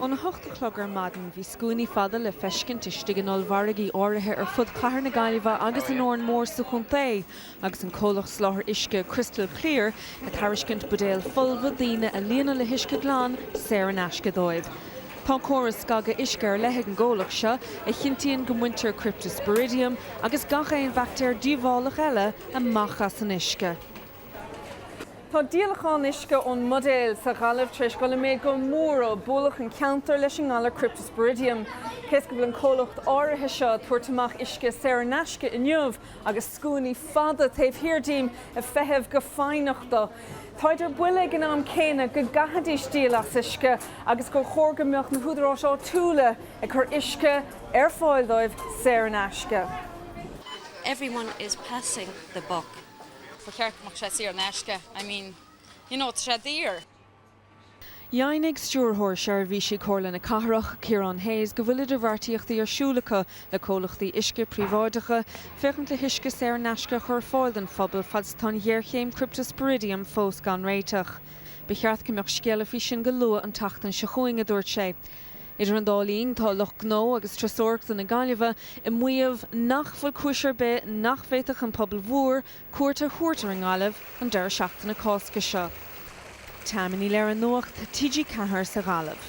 Óna hocht a chlog ar maidin bhí scuainí fada le feiscint istigh in ollmhargaí áirithe ar fud chathair na Gaillimhe agus in Órán Mór sa chontae agus an comhlacht soláthar uisce Crystal Clear ag tairiscint buidéal folmha daoine a líonadh le huisce glan saor in aisce dóibh. Tá córas scagadh uisce ar leith ag an gcomhlacht seo a chinntíonn go mbaintear Cryptosporidium agus gach aon bhaictéar díobhálach eile amach as an uisce. Tá díolachán uisce ón mbuidéal sa Ghaillimh tar éis dul i méid go mór ó bualadh an ceantar leis an ngalar Cryptosporidium. Cé is go bhfuil an comhlacht áirithe seo ag tabhairt amach uisce saor in aisce inniu, agus scuainí fada taobh thiar díom ag feitheamh go foighneach dó, táid ar buile ag an am céanna go gcaithfidís díol as uisce agus gur chóir go mbeadh na húdaráis áitiúla ag cur uisce ar fáil dóibh saor in aisce. Everyone is passing the buck. I mean, you know, it's dear. Dheimhnigh Stiúrthóir Seirbhísí Comhairle na Cathrach, Ciarán Hayes, go bhfuil idirbheartaíochtaí ar siúl acu le comhlachtaí uisce príobháideacha féachaint le huisce saor in aisce a chur ar fáil don phobal fad is atá an ghéarchéim cripteasporidiam fós gan réiteach. Ba cheart go mbeadh scéala faoi sin go luath an tseachtain seo chugainn, a dúirt sé. Idir an dá linn, tá lucht gnó agus turasóireachta na Gaillimhe ag maíomh nach bhfuil cúis ar bith nach bhféadfadh an pobal mhór cuairt a thabhairt ar an nGaillimh an deireadh seachtaine Cásca seo. Tammy Ní Laoghaire, Nuacht TG4 sa Ghaillimh.